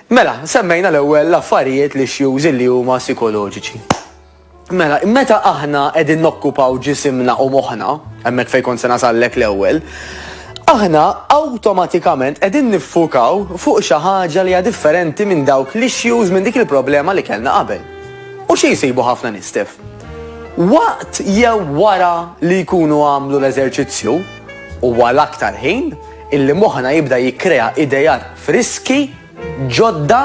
Mela, semmejna l-ewwel l-affarijiet lixxjużi li huma sikoloġiċi. Mela, meta aħna qegħdin nokkupaw ġisimna u moħħna, hemmhekk fejn kont se nasallek l-ewwel, aħna awtomatikament qegħdin niffukaw fuq xi ħaġa li hija differenti minn dawk l-issues minn dik il-problema li kellna qabel. U xi jsibu ħafna nistef? Waqt jew wara li jkunu għamlu l-eżerċizzju, u għal aktar ħin, illi moħħna jibda jikkrea idejat friski, ġodda,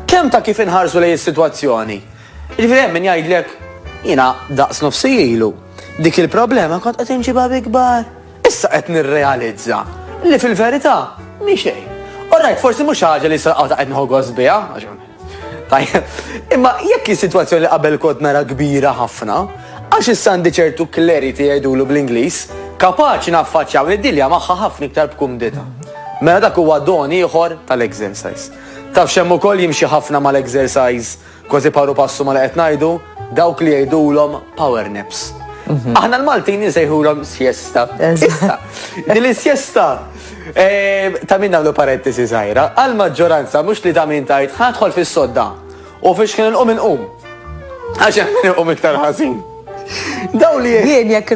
kemm ta' kif inħarsu lejn is-sitwazzjoni. Jiġifieri hemm min jgħidlek jiena daqs nofsi ilu dik il-problema kont qed inġibha bi kbar. Issa qed nirrealizza li fil-verità mhi xejn. Orajt, forsi mhux ħaġa li saqgħu ta' qed nħoggos biha, Tajjeb, imma jekk is-sitwazzjoni li qabel kont nara kbira ħafna, għax issa għandi ċertu clarity jgħidulu bl-Ingliż, kapaċi naffaċċja u niddilja magħha ħafna iktar b'kumdità. Mela dak huwa don ieħor tal-exercise. Taf x'hemm ukoll jimxi ħafna mal-exercise kważi paru passu ma li qed ngħidu, dawk li jgħidulhom power naps. Mhm. Aħna l-Maltin nsejħulhom siesta. Din is-siesta Ehm, ta' min nagħmlu parentesi żgħira, għal maġġoranza mhux li ta' min tajt ħadħol fis-sodda u fiex kien inqum inqum. Għax hemm min inqum iktar ħażin. Daw li jien jekk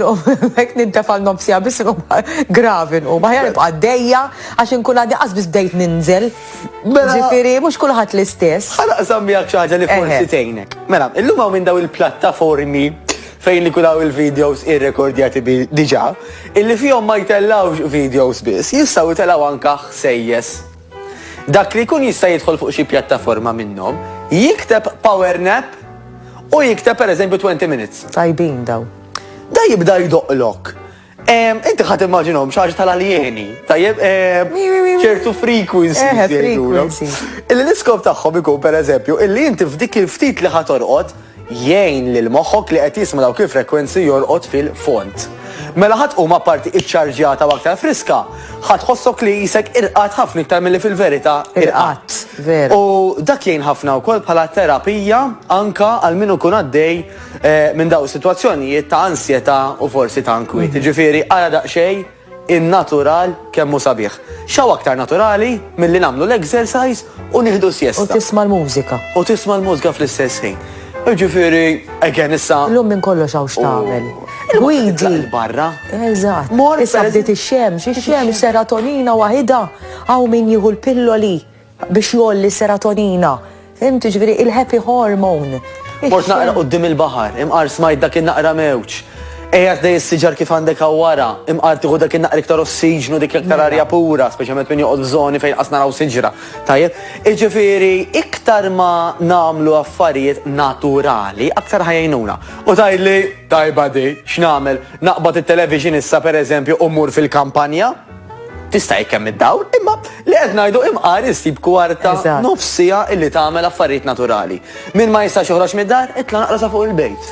jekk nintefa' nofsija biss inqum gravi nqum. Aħjar nibqa' dejja għax inkun għaddi qas biss bdejt ninżel. Mela- Ġifieri mhux kulħadd l-istess. Ħalaq sammi għak xaħġa li forsi tejnek. Mela, illum hawn minn daw il-plattaformi fejn ikun hawn il-videos irrekordjati diġà, illi fihom ma jtellgħux videos biss, jistgħu jtellgħu anke ħsejjes. Dak li jkun jista' jidħol fuq xi pjattaforma minnhom, jikteb power nap u jikteb pereżempju 20 minutes. Tajbin daw. Da jibda jdoqlok. Inti ħat immaġinhom xaġ tal-aljeni, tajjeb, ċertu frequency. Eh, frequency. Illi l-iskop tagħhom ikun per eżempju, illi inti f'dik il-ftit li ħat orqod, jgħin lil moħħok li qed jisma' dawk il-frequency jorqod fil-font. Mela ħadd huma parti iċċarġjata u aktar friska, ħadd ħossok li jisek irqat ħafna iktar milli fil-verità irqat. U dak jgħin ħafna wkoll bħala terapija anka għal min ikun għaddej minn daw is-sitwazzjonijiet ta' ansjetà u forsi ta' inkwiet. Jiġifieri ara daqsxejn in-natural kemm hu sabiħ. X'hawn aktar naturali milli nagħmlu l-exercise u nieħdu siesta. U tisma' l-mużika. U tisma' l-mużika fl-istess ħin. Jiġifieri, again issa. Illum minn kollox hawn x'tagħmel. Gwidi. Il-barra. Eżatt. Mor. Issa bdiet ix-xemx, ix-xemx, serotonina waħidha. Hawn min jieħu l-pilloli. Biex jgħolli s-serotonina. Fhimt, jiġifieri il-happy hormone. Mort naqra quddiem il-baħar, imqar smajt dak in-naqra mewġ. Qiegħed lej is-siġar kif għandek hawn wara, imqar tieħu dak in-naqra iktar ossiġnu, dik l-iktar arja mela. pura, speċjalment min joqgħod f'żoni fejn qas naraw siġra. Tajjeb? Jiġifieri iktar ma nagħmlu affarijiet naturali, aktar ħajjnuna. U tgħidli, tajba di, x'nagħmel? Naqbad it-television issa pereżempju u mmur fil-kampanja? tista' jekk hemm id-dawl, imma li qed ngħidu imqar issib kwarta nofsija illi tagħmel affarijiet naturali. Min ma jistax joħroġ mid-dar, itla' naqra sa fuq il-bejt.